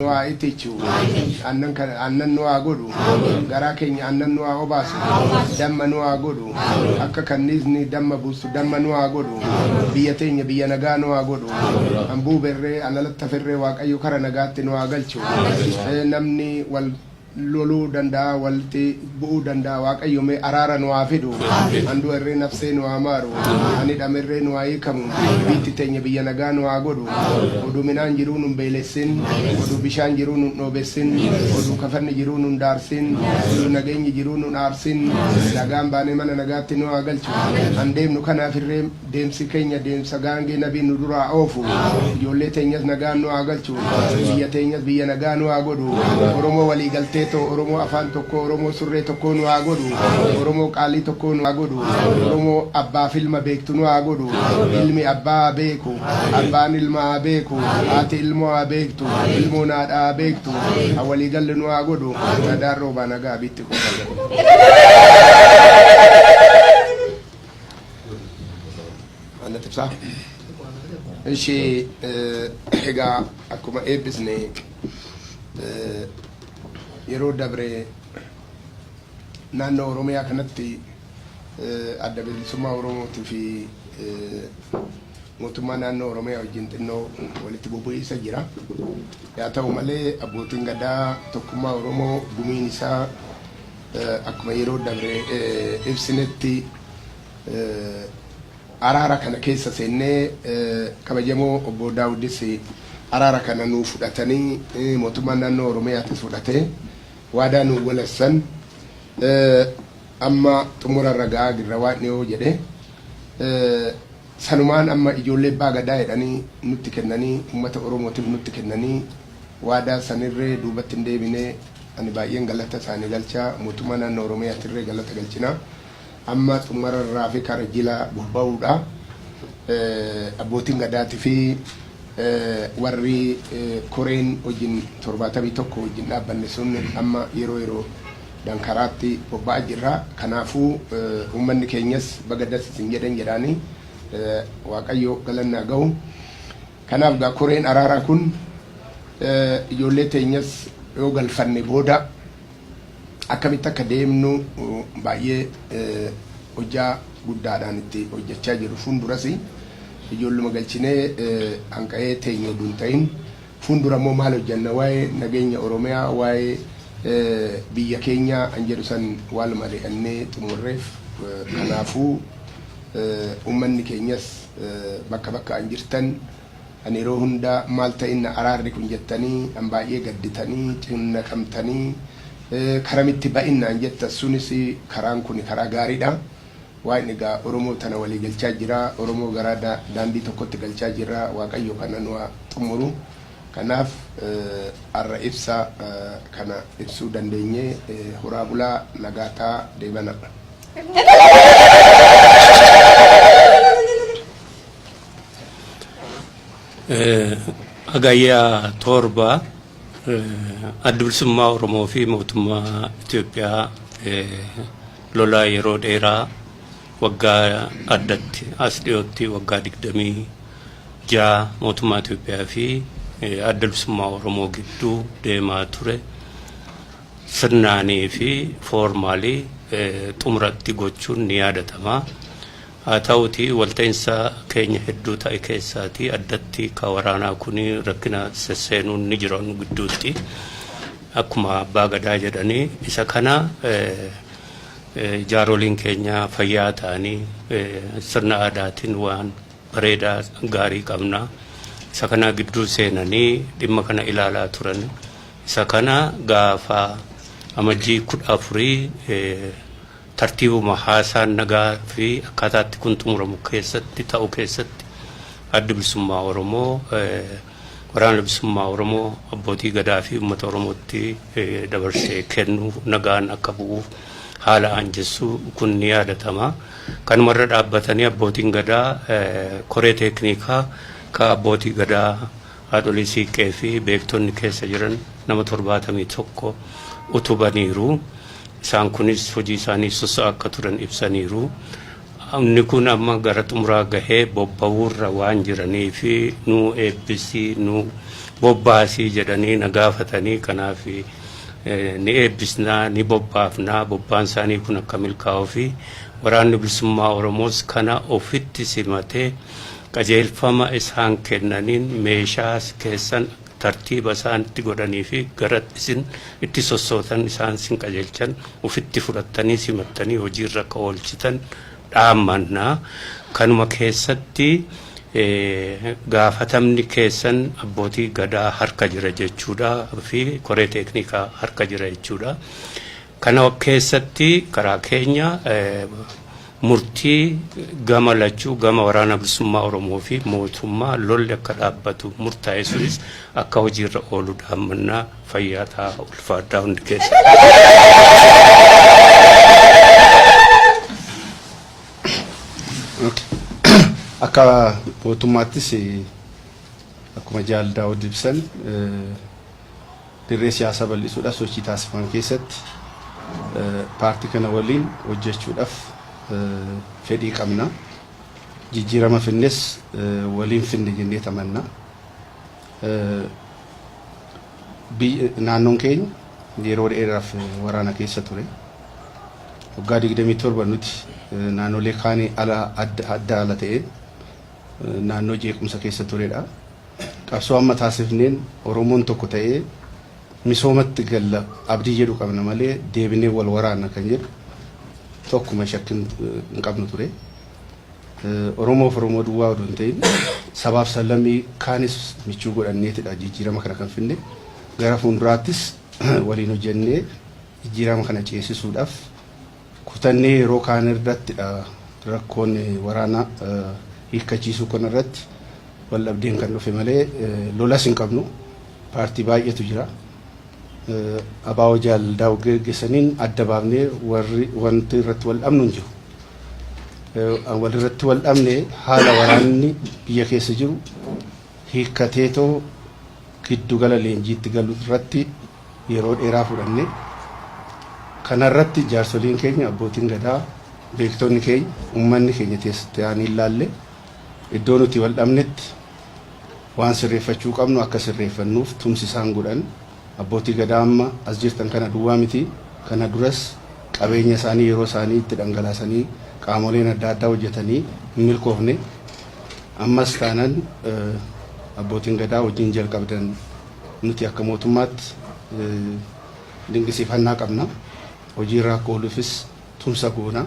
nu haa ittichu annan kan annan nu haa godhu garaa keenya annan nu haa obaasu damma nu haa godhu akka kanniisni damma buustu damma nu haa godhu biyya teenya biyya nagaa nu haa godhu an buuberree an alattaferree waaqayyo kara nagaatti nu haa galchu Eh, namni wal loluu danda'aa walti bu'uu danda'aa waaqayyo mee araara nu haa fidu an du'a irree nafsee nu haa maaru an hidhame irree nu haa hiikamu biitti teenya biyya nagaa nu haa godhu oduu minaan jiruu nun beelessin oduu bishaan jiruu nun dhoobessin oduu kafanni jiruu nun daarsin oduu nageenyi jiruu nun aarsin nagaan baanee mana nagaatti nu haa galchu an deemnu kanaaf irree Deemsi keenya deemsa gaangee nabiin nu duraa oofu. Ijoollee teenyas nagaan nu haa galchu. Biyya teenyas biyya nagaa nu haa godhu. Oromoo walii galtee too Oromoo afaan tokkoo Oromoo surree tokkoo nu haa godhu. Oromoo qaalii tokkoo nu haa godhu. Oromoo abbaaf ilma beektu nu haa godhu. Ilmi abbaa haa beeku. Abbaan ilma haa beeku. Haati ilmoo haa beektu. Ilmoon haadha haa beektu. Ha walii galle nu haa godhu. Nadaan roobaa nagaa abiitti kuufame. Annatti ibsaa. Ishii egaa akkuma eebbisne yeroo dabre naannoo Oromiyaa kanatti adda bilisummaa Oromootii fi mootummaa naannoo Oromiyaa wajjin xinnoo walitti bubu'iinsa jira. Yaa ta'u malee abbootiin gadaa tokkummaa Oromoo gumiin isaa Akkuma yeroo dabre ibsinetti araara kana keessa seennee kabajamoo obbo Daawudis araara kana nuu fudhatanii mootummaan naannoo Oromiyaatis fudhatee waadaa nuu galassan amma xumura irra ga'aa jirra waan dhiyoo jedhe sanumaan amma ijoollee abbaa gadaa jedhanii nutti kennanii ummata Oromootiif nutti kennanii waadaa sanirree duubatti hin deebinee Ani baay'een galata isaani galcha. Mootummaa naannoo Oromiyaatirree galata galchina. Amma xumurarra hafe kara jila bobba'uudha. Abbootiin Gadaatifi warri koreen wajjin 71 wajjin dhaabbanne sun amma yeroo yeroodhaan karaatti bobba'aa jirra. Kanaafuu uummanni keenyas baga das isin jedhen jedhaani. Waaqayyo galanni haa gahu. Kanaaf egaa koreen araaraa kun ijoollee teenyas yoo galfanne booda akkamitti akka deemnu baay'ee hojjaa guddaadhaan itti hojjachaa jiru. Fuunduras ijoolluma galchinee hanqa'ee teenyu udu hin ta'in fuundura immoo maal hojjanna waa'ee nageenya Oromiyaa waa'ee biyya keenyaa an jedhu san waal mari'annee xumurreef. Kanaafuu. Ummanni keenyas bakka bakka'an jirtan kan yeroo hunda maal ta'inna araarri kun jettanii kan baay'ee gadditanii cinnaqamtanii karamitti ba'innaan jettan sunis karaan kuni karaa gaariidha. Waaqni egaa Oromoo tana walii galchaa jira. Oromoo garaa daandii tokkotti galchaa jirra. Waaqayyo kana nu haa xummuru. Kanaaf har'a ibsa kana ibsuu dandeenye. Horaa bulaa nagaa ta'aa deebanaa. Hagayya torba adda bilisummaa Oromoo fi mootummaa Itoophiyaa lola yeroo dheeraa waggaa addatti as dhiyootti waggaa digdamii ja'a mootummaa Itoophiyaa fi adda bilisummaa Oromoo gidduu deemaa ture sirnaanii fi foormaalii xumuratti gochuun ni yaadatama. Haa ta'uutii walta'insa keenya hedduu ta'e keessaatii addatti ka waraanaa kun rakkina sesseenuun ni jira nu gidduutti. Akkuma abbaa gadaa jedhanii isa kana jaaroliin keenya fayyaa ta'anii sirna aadaatiin waan bareedaa gaarii qabna. Isa kana gidduu seenanii dhimma kana ilaalaa turan Isa kana gaafa Amajjii 14 tartiibuma haasaan nagaa fi akkaataa itti kun xumuramu keessatti ta'u keessatti Addi Bilisummaa Oromoo Waraana Bilisummaa Oromoo Abbootii Gadaa fi Uummata Oromootti dabarsee kennu nagaan akka bu'uuf haala aanjessu kun ni yaadatama. Kanumarra dhaabbatanii Abbootiin Gadaa koree teekniikaa ka Abbootii Gadaa Haadholii Siiqqee fi beektonni keessa jiran nama 71 utubaniiru. Isaan kunis hojii isaanii susa akka turan ibsaniiru. Inni kun amma gara xumuraa gahee bobba'uurra waan jiraniif nu eebbisi, nu bobbaasi jedhanii na gaafatanii kanaaf ni eebbisnaa, ni bobbaafnaa, bobbaan isaanii kun akka milkaa'uufi waraanni bilisummaa Oromoos kana ofitti simatee Qajeelfama isaan kennaniin meeshaa keessan tartiiba isaan itti godhanii fi gara isin itti sossootan isaan sin qajeelchan ufitti fudhattanii simattanii hojii irra akka oolchitan dhaammanna. Kanuma keessatti gaafatamni keessan abbootii gadaa harka jira jechuudha fi koree teeknikaa harka jira jechuudha. Kana keessatti karaa keenya murtii gama lachuu gama Waraana Bilisummaa Oromoo fi mootummaa lolli akka dhaabbatu murtaa'e sunis akka hojiirra oolu dhaammannaa fayyaa ta'a ulfaadhaa hundi keessa. Akka mootummaattis akkuma jaal daawud ibsan Dirree siyaasaa bal'isuudhaaf sochii taasifamu keessatti paartii kana waliin hojjechuudhaaf fedhii qabna. Jijjiirama fidnes waliin fidna jenneet amanna. Naannoon keenya yeroo dheeraaf waraana keessa ture. Waggaa 27 nuti naannolee kaanii ala adda adda ala ta'een naannoo jeequmsa keessa turedha. Qabsoo amma taasifneen Oromoon tokko ta'ee misoomatti galla abdii jedhu qabna malee deebinee wal waraanna kan jedhu tokkuma shakki hin qabnu ture. Oromoof Oromoo duwwaa odoo hin ta'in sabaaf sablammii kaanis michuu godhanneetidha jijjiirama kana kan finne. Gara fuulduraattis waliin hojjennee jijjiirama kana ceesisuudhaaf kutannee yeroo kaane irrattidha rakkoon waraana hiikkachiisuu kana irratti wal dhabdeen kan dhufe malee lolas hin qabnu. Paartii baay'eetu jira. Abaawoo Jaal Daawud geggeessaniin adda baafnee warri wanti irratti wal dhabnu hin jiru. Wal irratti wal dhabne haala waraanni biyya keessa jiru hiikkateetoo giddugala leenjiitti galu irratti yeroo dheeraa fudhanne. Kanarratti jaarsoliin keenya, abbootiin gadaa, beektonni keenya, ummanni keenya taa'anii ilaalle. Iddoo nuti wal dhabnetti waan sirreeffachuu qabnu akka sirreeffannuuf tumsi isaan godhan abbootii gadaa amma as jirtan kana duwwaa miti. Kana duras qabeenya isaanii, yeroo isaanii itti dhangalaasanii qaamoleen adda addaa hojjetanii hin milkoofne. Ammas taanan abbootiin gadaa hojiin jalqabdan Nuti akka mootummaatti dingisiifannaa qabna. Hojii irra akka ooluufis tumsa goona.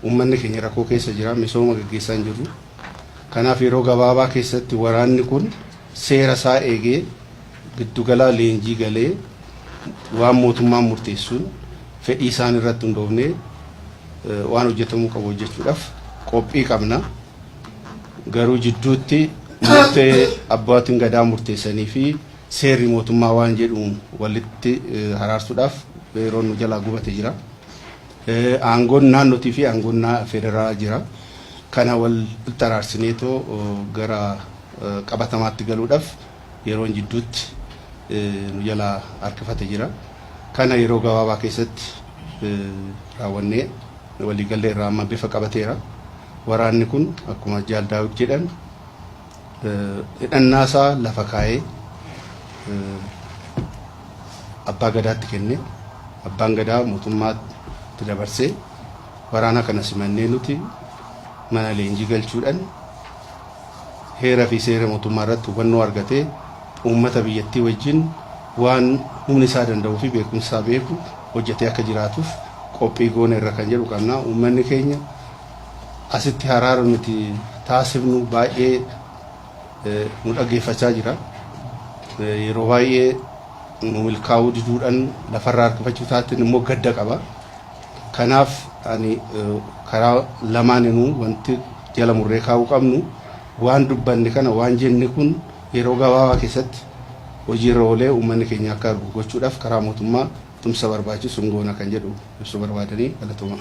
Uummanni keenya rakkoo keessa jira. Misooma gaggeessaa hin jirru. Kanaaf yeroo gabaabaa keessatti waraanni kun seera isaa eegee giddu galaa leenjii galee waan mootummaan murteessuun fedhii isaan irratti hundoofnee waan hojjetamuu qabu hojjechuudhaaf qophii qabna. garuu jidduutti murtee abbootiin gadaa murteessanii fi seerri mootummaa waan jedhuun walitti haraarsuudhaaf yeroon nu jalaa gubate jira. Aangoon naannootii fi aangoon federaalaa jira. Kana wal xaraarsineetoo gara qabatamaatti galuudhaaf yeroon jidduutti nu jalaa harkifate jira. Kana yeroo gabaabaa keessatti raawwannee waliigallee irraa amma bifa qabateera. Waraanni kun akkuma Jaal Daawud jedhan hidhannaa isaa lafa kaa'ee Abbaa Gadaatti kenne. Abbaan Gadaa mootummaatti dabarsee waraana kana simannee nuti mana leenjii galchuudhaan heera fi seera mootummaa irratti hubannoo argatee uummata biyyattii wajjin waan humni isaa danda'uu fi beekumsa isaa beeku hojjetee akka jiraatuuf qophii goone irra kan jedhu qabna. Uummanni keenya Asitti haraara nuti taasifnu baay'ee nu dhaggeeffachaa jira. Yeroo baay'ee nu milkaa'uu diduudhaan lafarraa harkifachuu isaatiin immoo gadda qaba. Kanaaf ani karaa lamaaninuu wanti jala murree kaa'uu qabnu waan dubbanne kana waan jenne kun yeroo gabaabaa keessatti hojiirra oolee uummanni keenya akka argu gochuudhaaf karaa mootummaa Tumsa barbaachisu hin goona kan jedhu ibsuu barbaadanii galatoomaa.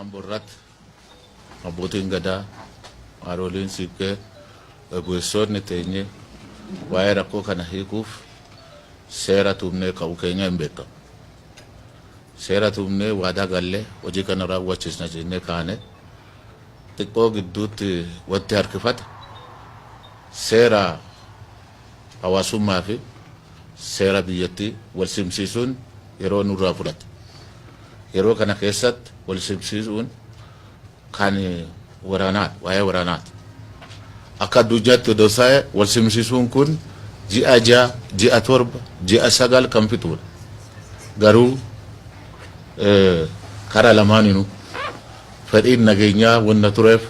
Ambo irratti abbootiin gadaa haadholiin siiqqee gaggeessoonni teenye waa'ee rakkoo kana hiikuuf seera tumnee ka'u keenya hin beekamu. Seera tumnee waadaa gallee hojii kana raawwachiisna jennee kaane xiqqoo gidduutti wanti harkifate seera hawaasummaa fi seera biyyattii wal simsiisuun yeroo nurraa fudhata. Yeroo kana keessatti wal simsiisuun kan waraanaati, waa'ee waraanaati. Akka addunyaatti odoo taa'e wal simsiisuun kun ji'a ja'a, ji'a torba, ji'a sagal kan fixuudha. Garuu karaa lamaaninuu fedhiin nageenyaa wanna tureef,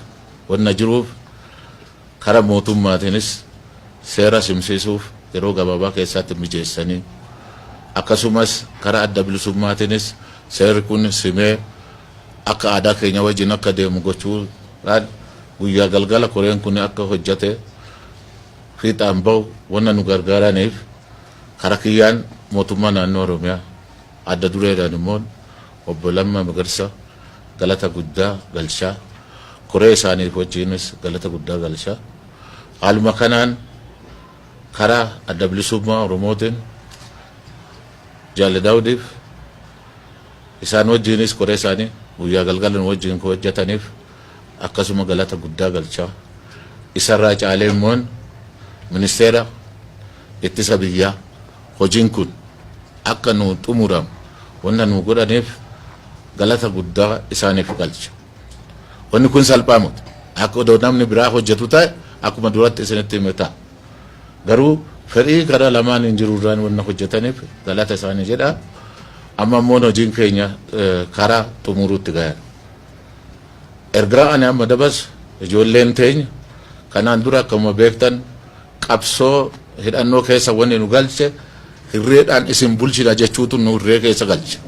wanna jiruuf, Kara mootummaatiinis seera simsiisuuf yeroo gabaabaa keessaatti mijeessanii akkasumas kara adda bilisummaatiinis seerri kun simee akka aadaa keenya wajjin akka deemu gochuu dhaan guyyaa galgala koreen kun akka hojjate fiixaan ba'u wanna nu gargaaraniif kara kiyyaan mootummaa naannoo Oromiyaa Adda dureedhaan immoo Obbo Lammaa Magarsa galata guddaa galchaa, koree isaaniif wajjiinis galata guddaa galchaa, haaluma kanaan karaa Adda Bilisummaa Oromootiin Jaalle Daawudiif isaan wajjiinis koree isaanii guyyaa galgala nu wajjiin koo hojjataniif akkasuma galata guddaa galchaa, isarraa caalee immoo Ministeera Ittisa Biyyaa, Hojiin kun akka nuu xumuramu wanta nuu godhaniif galata guddaa isaaniif galcha. Wanni kun salphaa miti. Akka odoo namni biraa hojjatu ta'e akkuma duratti isinitti hime ta'a. Garuu fedhii karaa lamaaniin jirurraan wanna hojjataniif galata isaanii jedha. Amma immoo hojiin keenya karaa xumuruutti gaheera. Ergaa ani amma dabarsu ijoolleen teenya kanaan dura akkuma beektan Qabsoo hidhannoo keessa wanni nu galche hirreedhaan isin bulchina jechuutu nu hirree keessa galche.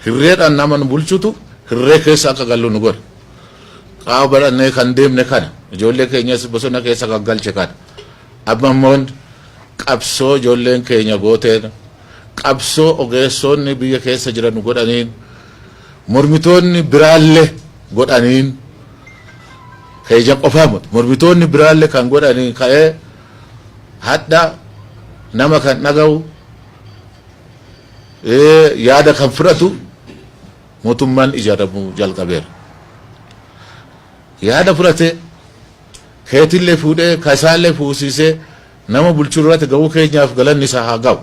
Hirreedhaan nama nu bulchutu hirree keessa akka gallu nu godhe. Qaawa badhannee kan deemne kana. Ijoollee keenyas bosona keessa kan galche kana. Amma immoo qabsoo ijoolleen keenya gooteen qabsoo ogeessoonni biyya keessa jiran nu godhaniin Mormitoonni biraalle godhaniin keeja qofaa mut mormitoonni biraalle kan godhaniin ka'ee hadha nama kan dhaga'u yaada kan fudhatu motummaan ijaaramu jalqabeera. Yaada fudhate keetillee fuudhee ka isaallee fuusiisee Nama bulchu irrati ga'uu keenyaaf galanni isaa haa ga'u.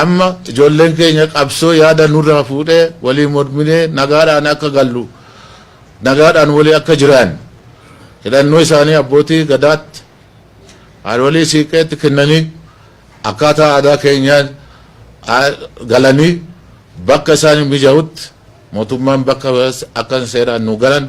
Amma ijoolleen keenya qabsoo yaada nurraa fuudhee walii morminee nagaadhaan akka gallu, nagaadhaan walii akka jiraannu hidhannoo isaanii abbootii Gadaatti, haadholii Siiqqeetti kennanii akkaataa aadaa keenyaa galanii bakka isaaniif mija'utti mootummaan bakka akka seeraan nuu galan,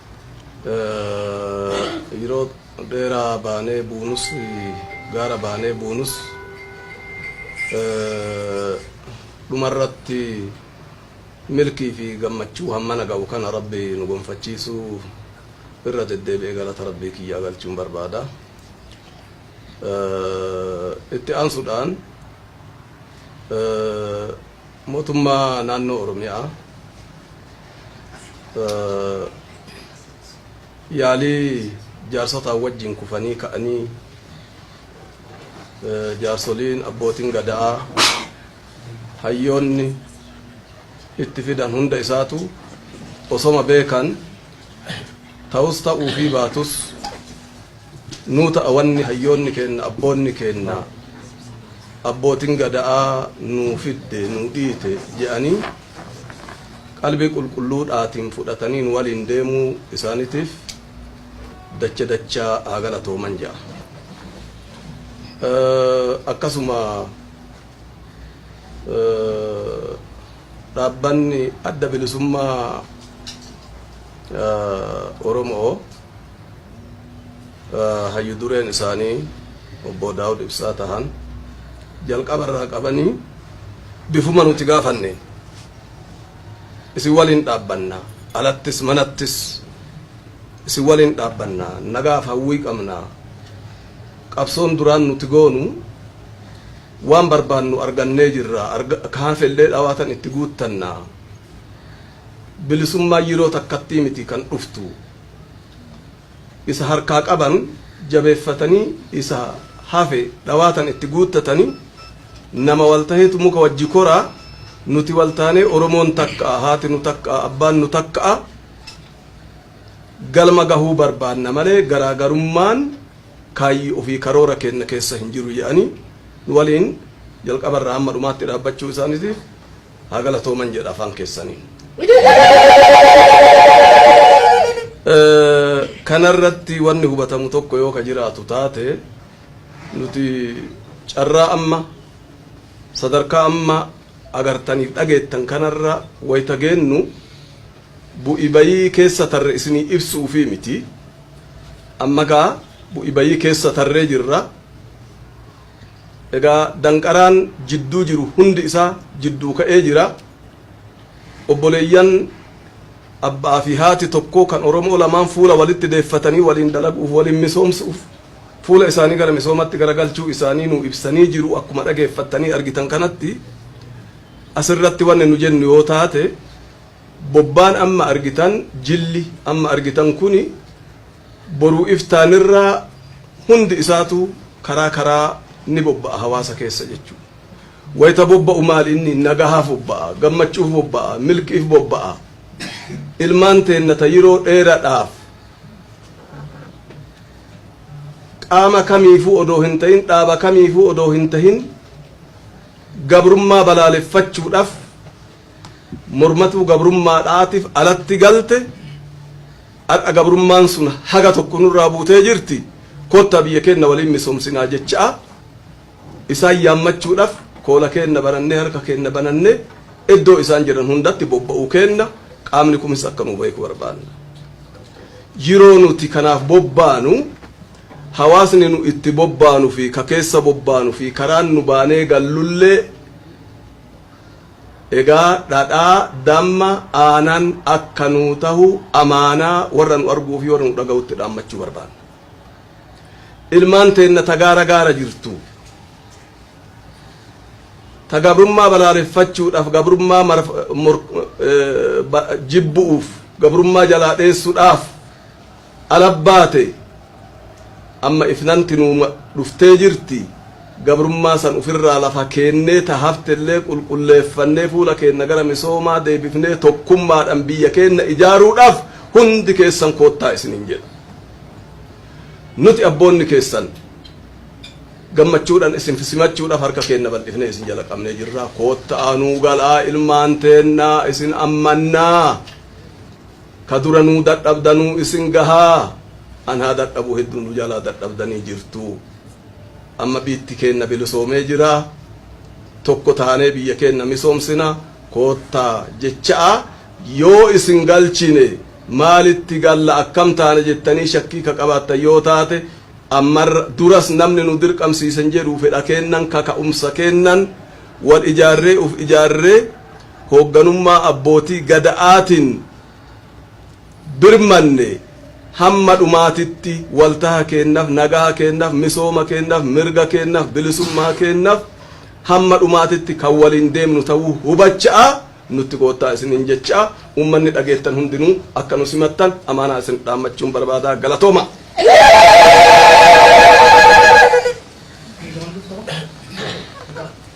Yeroo dheeraa baanee buunus, gaara baanee buunus, dhuma irratti milkii fi gammachuu hammana ga'u kana Rabbi nu gonfachiisuu irra deddeebi'ee galata Rabbii kiyyaa galchuun barbaada. Itti aansuudhaan, Mootummaa naannoo Oromiyaa yaalii jaarsotaan wajjin kufanii ka'anii jaarsoliin abbootiin gada'aa hayyoonni itti fidan hunda isaatu osoma beekan Ta'us ta'uufii baatus nuu ta'a wanni hayyoonni keenna, abboonni keenna, abbootin gada'aa nuu fidde, nuu dhiite je'anii qalbii qulqulluudhaatiin fudhatanii nu waliin deemuu isaanitiif dacha dachaa haa galatooman je'a. Akkasuma. Dhaabbanni Adda Bilisummaa Oromoo hayyu dureen isaanii obbo Daawud Ibsaa tahan jalqaba irraa qabanii bifuma nuti gaafanne isin waliin dhaabbanna alattis manattis isin waliin dhaabbanna nagaaf hawwii qabna qabsoon duraan nuti goonu waan barbaannu argannee jirra ka hafellee dhawaatan itti guuttanna bilisummaan yeroo takkattii miti kan dhuftu isa harkaa qaban jabeeffatanii isa hafe dhawaatan itti guuttatanii nama wal taheetu muka wajji koraa nuti wal taanee oromoon takka'a haati nu takka'a abbaan nu takka'a Galma gahuu barbaadna malee garaagarummaan kaayyoo fi karoora keenya keessa hin jiru jedhanii nu waliin jalqaba irraa hamma dhumaatti dhaabbachuu isaaniitiif haa galatooman jedha afaan keessaniin. Kana irratti wanni hubatamu tokko yoo ka jiraatu taate nuti carraa amma sadarkaa amma agartaniif dhageettan kanarra wayita geennu Bu'i bayii keessa tarre isinii ibsuufii miti. Amma kaa bu'i bayii keessa tarree jirra. Egaa danqaraan jidduu jiru hundi isaa jidduu ka'ee jira. Obboleeyyan abbaa fi haati tokkoo kan Oromoo lamaan fuula walitti deeffatanii waliin dalaguuf, waliin misoomsuuf fuula isaanii gara misoomatti garagalchuu isaanii nuu ibsanii jiru akkuma dhageeffattanii argitan kanatti. Asirratti wanni nu jennu yoo taate. Bobbaan amma argitan, jilli amma argitan kuni boruu iftaanirraa hundi isaatuu karaa karaa ni bobba'a hawaasa keessa jechuudha. Wayita bobba'u maali inni? Nagahaaf bobba'a, gammachuuf bobba'a, milkiif bobba'a. Ilmaan teenna ta yeroo dheeradhaaf qaama kamiifuu odoo hin ta'in, dhaaba kamiifuu odoo hin ta'in gabrummaa balaaleffachuudhaaf, mormatuu gabrummaadhaatif alatti galte har'a gabrummaan sun haga tokko nurraa buutee jirti kottaa biyya keenna waliin misoomsinaa jechaa isaan yaammachuudhaf koola keenna banannee harka keenna banannee iddoo isaan jiran hundatti bobba'uu keenna qaamni kumis akka nu beeku barbaanna. Yeroo nuti kanaaf bobbaanu hawaasni nu itti bobbaanu fi ka keessa bobbaanu fi karaan nu baanee gallullee Egaa dhadhaa, damma, aanan akka nuu tahu amaanaa warra nu arguu fi warra nu dhagahutti dhaammachuu barbaanna. Ilmaan teenna ta gaara gaara jirtu, ta gabrummaa balaaleffachuudhaaf, gabrummaa jibbu'uuf, gabrummaa jalaa dheessuudhaaf, Alabbaate! Amma ifnanti nuu dhuftee jirti, gabrummaa san ufirraa lafa keennee ta haftellee qulqulleeffannee fuula keenna gara misoomaa deebifnee tokkummaadhan biyya keenna ijaaruudhaaf hundi keessan koottaa isiniin jedha. Nuti abboonni keessan gammachuudhan isin simachuudhaaf harka keenna bal'ifnee isin jala qabnee jirra. Kootta'aa nuu galaa ilmaan teenna isin ammannaa! Ka dura nuu dadhabdanuu isin gahaa an haa dadhabuu hedduu nu jalaa dadhabdanii jirtuu. Amma biitti keenna bilisoomee jiraa. Tokko taanee biyya keenna misoomsina koottaa jecha'aa yoo isin galchine maalitti galla akkam taana jettanii shakkii ka qabaattan yoo taate ammarra duras namni nu dirqamsiisen jedhuu fedha keennan kaka'umsa keennan wal ijaarree uf ijaarree hoogganummaa abbootii Gada'aatiin birmanne hamma dhumaatitti waltaha keennaf, nagaha keennaf, misooma keennaf, mirga keennaf, bilisummaa keennaf hamma dhumaatitti kan waliin deemnu ta'uu hubacha'aa nutti koottaa isiniin jechaa uummanni dhageettan hundinuu akka nu simattan amaanaa isin dhaammachuun barbaada. Galatoomaa!